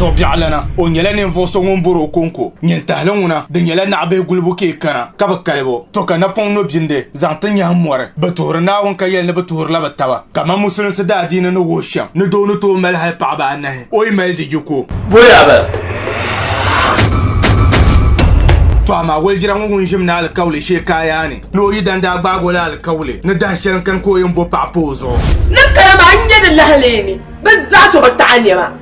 Zɔbiɛɣulana o nyɛla ninvuɣu so ŋun bori o konko nyɛntahili ŋuna di nyɛla naɣabihi gulibu ka i kana ka bi kali bo to ka napɔŋ nobindi zaŋ ti nyɛhi mɔri bi tuhiri Naawuni ka yɛli ni bi tuhirila bi taba, kaman Musulinsi daadiini ni wuhi shɛm ni doo ni tooi mali hali paɣaba anahi, o yi mali di yi ku o. Bɔya ba! Tɔ amaa wolidira ŋɔ ŋun ʒim ni alikauli shee ka a yaa ni ni o yidan daa gbaag o la alikauli ni dahin shɛli n kani ka o yɛn bo paɣa pa o zuɣu. Ni kani maa n-nyɛ di lahaleeni, bɛ zaa so bi taɣi nɛma.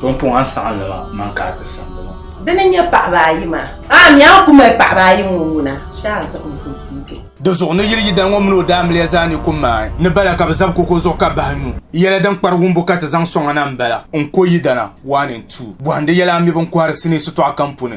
Pumpɔŋɔ saɣimlima mini ka ti simdima. Di ni nyɛ paɣaba ayi maa. A mi a ku mali paɣaba ayi ŋɔ ŋuna shee a zuɣu ni ku piigi. Di zuɣu ni yili yidana ŋɔ mini o daamiliya zaa ni ku maai ni bala ka bɛ zabi koko zuɣu ka bahi nyu. Yɛla din kpari wumbu ka ti zaŋ sɔŋ a na m-bala, N ko yidana, One and Two, bɔhindi yɛla a mi bini kɔhiri sinii sitɔɣu kam puni.